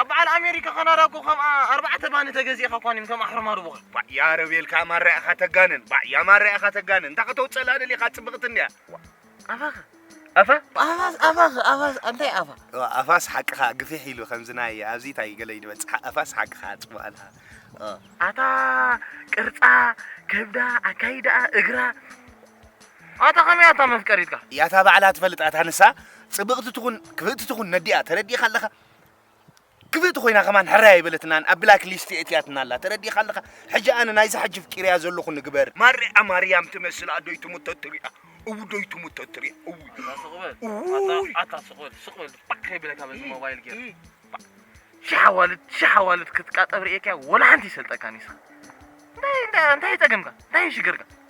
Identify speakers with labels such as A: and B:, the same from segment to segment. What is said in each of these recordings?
A: ኣብ በዓል ኣሜሪካ ካናዳ እኮ ከም ኣርባዕተ ባኒ ተገዚእኻ እኳ ኒም ከም ኣሕርማሩ ብኻ ባዕ ያረብ የልካ
B: ኣማራ ኢኻ ተጋንን ባዕ ያማራ ኢኻ ተጋንን እንታይ ከተውፅእላ ደሊኻ ፅብቕቲ እንድያ ኣፋኸ ኣፋ
A: ኣፋስ ኣፋኸ ኣፋስ እንታይ ኣፋ ኣፋስ ሓቅኻ
B: ግፊሕ ኢሉ ከምዚ ናይ ኣብዚ እንታይ ገለ ይድበፅሓ ኣፋስ ሓቅኻ ፅቡቅ ኣልካ ኣታ
A: ቅርፃ ከብዳ ኣካይዳኣ እግራ ኣታ ከመይ ኣታ መፍቀሪትካ? ያታ ባዕላ ትፈልጥ
B: ኣታ ንሳ ጽብቕቲ ትኹን ክፍእቲ ትኹን ነዲኣ ተረዲእካ ኣለኻ ክፍእቲ ኮይና ከማን ሕራይ ኣይበለትናን ኣብ ብላክ ሊስት የእትያትና ኣላ ተረዲእካ ኣለኻ ሕጂ ኣነ ናይዛ ሕጂ ፍቂርያ ዘለኹ ንግበር ማርያ ማርያም ትመስል ኣዶይ ትሙት ተትሪኣ እውዶይ ትሙት ተትሪኣ እውይ እውይ ኣታ ስቕ በል ስቕ በል ባዕ ከይብለካ በዚ ሞባይል ጌር ሻሓዋልድ ሻሓዋልድ ክትቃጠብ ርእየካያ ወላ ሓንቲ ይሰልጠካን ይስኻ እንታይ እንታይ እንታይ ጸገምካ እንታይ ሽግርካ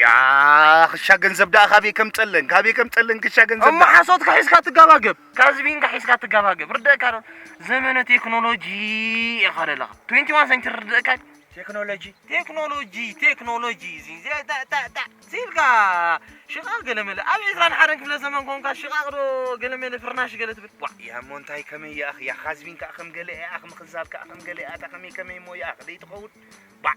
A: ያእ
B: ክሻ ገንዘብ ደኣ ካበይ ከምጸለን ካበይ ከምጸለን ክሻ ገንዘብ እሞ ሓሶትካ ሒዝካ
A: ትጋባገብ ካዝቢንካ ሒዝካ ትጋባገብ ርደእካ ዶ ዘመነ ቴክኖሎጂ ኢኻ ዘለኻ 21 ሰንቸሪ ርደእካ ቴክኖሎጂ ቴክኖሎጂ ቴክኖሎጂ እዚ ታታታ ሲልካ ሽቓቕ ገለመለ ኣብ ዕስራን ሓደን ክፍለ ዘመን ኮንካ ሽቓቕ ዶ ገለመለ ፍርናሽ ገለ ትብል ዋ ያ እሞ እንታይ ከመይ
B: እያ እያ ካዝቢን ከዓ ከም ገለ እያ ከም ክዛብ ከዓ ከም ገለ እያ እታ ከመይ ከመይ እሞ እያ ደይትኸውን ባዕ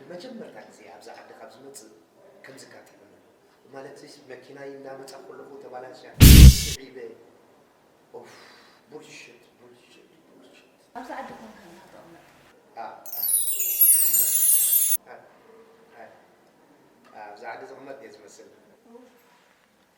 B: ንመጀመርታ ግዜ ኣብዛ ዓዲ ካብ ዝመጽእ ከምዚ ኣጋጢሙኒ ኣሎ። ማለት'ሲ መኪናይ እናመጻ ከለኹ ተባላሽያ ስዒበ ኡፍ ቡልሽት ቡልሽት ቡልሽት። ኣብዚ ዓዲ
C: ኮንካ እንዳ
B: ተቐመጥካ? ኣእ ኣእ ኣእ ኣብዛ ዓዲ ዝቕመጥ እየ ዝመስል። ኡፍ።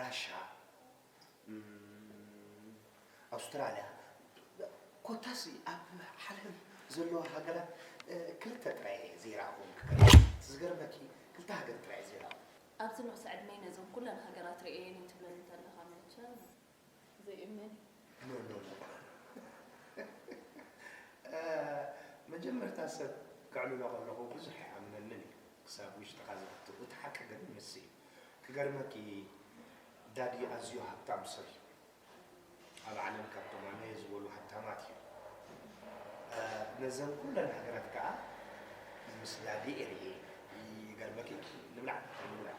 B: ራሻ እም ኣውስትራልያ ኮታስ ኣብ ዓለም ዘለዋ ሃገራት ክልተ ጥራይ እየ ዘይረኣኹወን ክገርመኪ እቲ ዝገርመኪ ክልተ ሃገር ጥራይ እየ ዘይረኣኹ። ኣብዚ ንኡስ ዕድመይ
C: ነዘን ኩለን ሃገራት ርእየየን እዩ ትብለኒ ተለኻ መቸስ። ዘይእመን እዩ። ኖ ኖ
B: መጀመርታ ሰብ ከዕልሎ ከለኹ ብዙሕ ኣይኣምነንን እዩ ክሳብ ውሽጥኻ ዝኣቱ እቲ ሓቂ ግን ንሱ እዩ ክገርመኪ ዳዲ ኣዝዩ ሃብታም ሰብ እዩ ኣብ ዓለም ካብቶም ኣነ ዝበሉ ሃብታማት እዩ ነዘን ኩለን ሃገራት ከዓ ምስ ዳዲ ኤርየ ይገርመኪ ንብላዕ ንብላዕ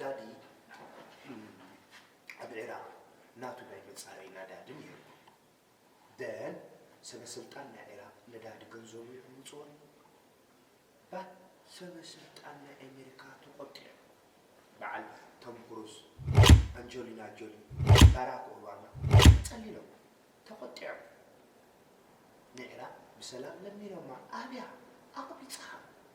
B: ዳዲ ኣብ ዒራቕ ናቱ ናይ መፃረይ ናዳዲ ነይሩ ደን ሰበስልጣን ናይ ዒራቕ ነዳዲ ገንዘቡ ይዕምፅዎ ባት ሰበስልጣን ናይ ኣሜሪካ ተቆጢዑ በዓል ቶም ክሩዝ ኣንጀሊና ጆሊ ባራክ ኦባማ ፀሊሎም ተቆጢዖም ንዒራቕ ብሰላም ለሚኖማ ኣብያ ኣቕቢፅኻ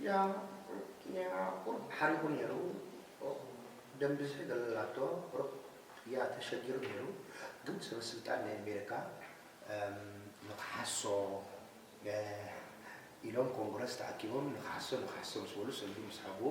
C: እያ
B: እያ ቁሩብ ሓሪቑ ነይሩ ኦህ ደም ብዝሒ ገለላቶ ቁሩብ እያ ተሸጊሩ ነይሩ ግን ሰበ ስልጣን ናይ ኣሜሪካ ንኽሓሶ ኢሎም ኮንግረስ ተኣኪቦም ንኽሓሶ ንኽሓሶ ምስ በሉ ሰልዲ ምስ ሃብዎ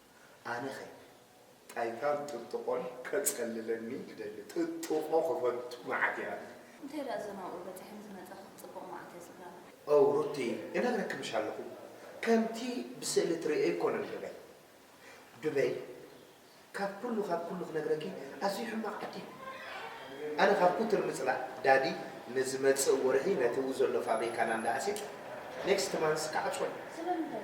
B: ኣነኸ ታይ ካብ ጥጥቖን ከፀልለኒ ክደሊ ጥጥቖ ክፈቱ መዓት እያ። እንታይ ድኣ እዞም ኣብኡ
C: በፂሖም ዝመፀ ክትፅብቕ መዓት እያ
B: ዝብላ። ኦው ሩቲ እነግረክምሽ ኣለኹ ከምቲ ብስእሊ ትርእዮ ኣይኮነን ዱበይ ዱበይ ካብ ኩሉ ካብ ኩሉ ክነግረኪ ኣዝዩ ሕማቕ ዓዲ እዩ ኣነ ካብ ኩትር ምፅላእ ዳዲ ንዝመፅእ ወርሒ ነቲ ኣብኡ ዘሎ ፋብሪካና እንዳ ኣሲጥ ኔክስት ማንስ ክዓፅዎ እዩ ስለምንታይ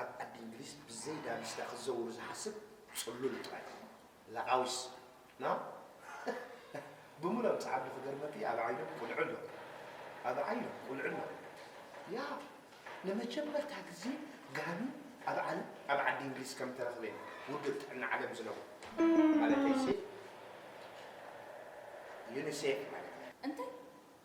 B: ኣብ ዓዲ እንግሊዝ ብዘይ ዳንስታ ክዘውር ዝሓስብ ጽሉል ጥራይ እዩ ላኣውስ ን ብምሎም ጻዓዱ ክገርመኪ ኣብ ዓይኖም ቁልዒ ኣሎ ኣብ ዓይኖም ቁልዒ ኣሎ ያእ ንመጀመርታ ግዜ ጋኒ ኣብ ዓለም ኣብ ዓዲ እንግሊዝ ከም ተረኽበ እዩ ውድብ ጥዕና ዓለም ዝነግሮ ማለተይሲ ዩኒሴፍ ማለት እዩ እንታይ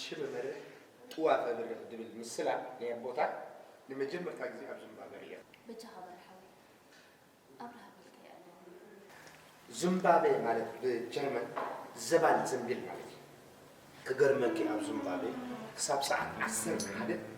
B: ሽበ መርህ ጥዋፈ ብርኽ ድብል ምስላ ናይ ኣቦታት ንመጀመርታ ግዜ ኣብ ዝምባበ ርእየ። በጃኻ በል
C: ሓወይ ኣብርሃ በልካዮ ኣለኒ።
B: ዝምባቤ ማለት ብጀርመን ዘባል ዘንቢል ማለት እዩ። ክገርመኪ ኣብ ዝምባቤ ክሳብ ሰዓት ዓሰርተ ሓደ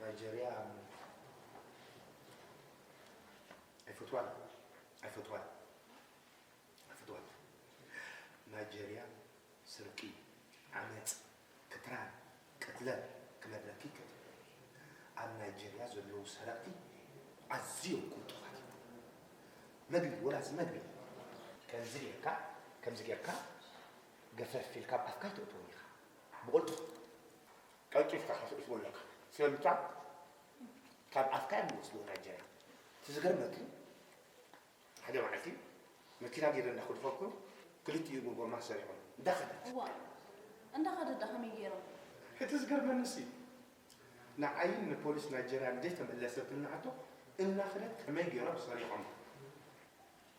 B: ናይጀርያ ኣይፈትዋን ኣይፈትዋን ኣይፈትዋን ናይጀርያ ስርቂ ዓመፅ ክትራን ቅትለን ክመድረኪ ይከት ኣብ ናይጀርያ ዘለዉ ሰረቕቲ ኣዝዮም ቁልጡፋት እዮም መግቢ ወላስ መግቢ ከምዚ ጌርካ ከምዚ ጌርካ ገፈፍ ኢልካ ኣብ ኣፍካ ይተእትዎም ኢኻ ብቕልጡፍ ቀልጢፍካ ከተእትዎ ኣለካ ስለምንታ ካብ ኣፍካ እዮም ዝወስድዎ ናይጀርያ እቲ ዝገርመኪ ሓደ መዓልቲ መኪና ጌረ እንዳኸድፈኩ ክልቲኡ ብጎማ ሰሪዖም እንዳኸደት እዋይ
C: እንዳኸደት ዳ ከመይ ጌሮም እቲ ዝገርመኒሲ
B: ንዓይን ንፖሊስ ናይጀርያን ዘይተመለሰትኒ ሕቶ እናኸደት ከመይ ጌሮም ሰሪዖም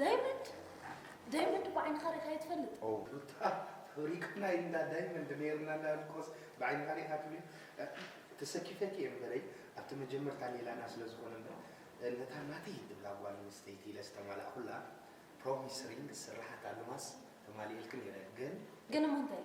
C: ዳይመንድ ዳይመንድ እኮ ዓይንኻ ሪእኻዮ ትፈልጥ ሩታ
B: ሪቅና እንዳ ዳይመንድ ነይርና እንዳልኮስ ብዓይንኻ ሪእኻ ትብል ተሰኪፈኪ እየ እምበረይ ኣብቲ መጀመርታ ሌላና ስለ ዝኾነ እምበር ነታ ናተይ ትብላ ጓል ኣንስተይቲ ኢለ ዝተማላእኩላ ፕሮሚስ ሪንግ ስራሓት ኣልማስ ተማሊኤልኪ ነይረ ግን ግን እሞ እንታይ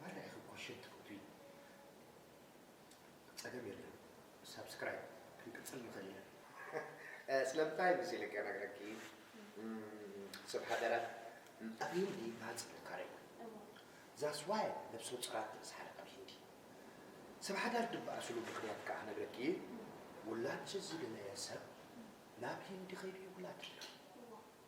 B: ማራ ኢኺ ኮሸት ትፍትዊ ጸገም የለን ሳብስክራይብ ክንቅጽል ንኽእል ኢና ስለምንታይ ምስ ኢለ ከነግረኪ ሰብ ሃገራት ኣብ ሂንዲ ባጽ ጥንካረ እዩ ዛስ ዋይ ነብሰ ጹራት ተብዝሓለ ኣብ ሂንዲ ሰብ ሓዳር ድበኣስሉ ምክንያት ከዓ ነግረኪ ውላድ ዝደለየ ሰብ ናብ ሂንዲ ከይዱ ይውላድ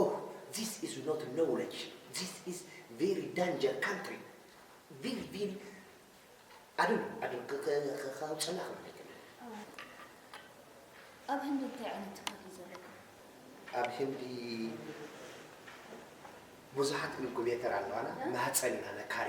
B: ኦህ ዚስ ኢዝ ኖት ኖውለጅ ዚስ ኢዝ ቪሪ ዳንጀር ካንትሪ ቪሪ ቪሪ ኣድም ኣድም ከውፅና ክብለይክ ኣብ ህንዲ እንታይ ዓይነት
C: ትካል እዩ ዘለኩም? ኣብ
B: ህንዲ ብዙሓት ኢንኩቤተር ኣለዋና ማህፀን ኢና ነካሪ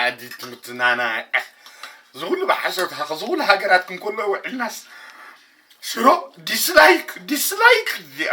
B: ዓዲት ምትናና ዝኹሉ ብሓሶት ሃኸ ዝኹሉ ሃገራት ክንከሎ ውዕልናስ ሽሮ ዲስላይክ ዲስላይክ እዚኣ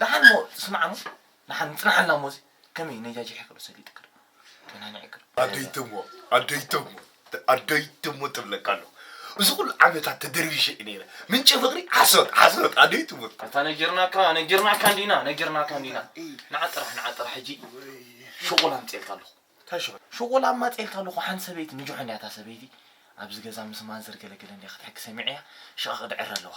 A: ደሓን እሞ ስማዕ እሞ ደሓን ምጽናሓና እሞ እዚ ከመይ ናይ ጃጂ ሕቅር ሰሊጥ ይቅር ደህና ናይ ዕቅር ኣደይ ተሞ ኣደይ ተሞ ኣደይ ተሞ ትብለካ ኣለኹ እዚ ኩሉ ዓመታት ተደርቢሸ እዩ ነይረ ምንጪ ፍቅሪ ሓሶት ሓሶት ኣደይ ትሙት ኣታ ነጊርናካ ነጊርናካ እንዲና ነጊርናካ እንዲና ንዓ ጥራሕ ንዓ ጥራሕ ሕጂ ሽቁል ኣምጽኤልካ ኣለኹ እንታይ ሽቁል ሽቁል
B: ኣማጽኤልካ
A: ኣለኹ ሓንቲ ሰበይቲ ንጆሖን እያ እታ ሰበይቲ ኣብዚ ገዛ ምስ ማንዘር ገለገለ እንዲያ ክትሕኪ ሰሚዐያ ሽቃ ክድዕር ኣለዋ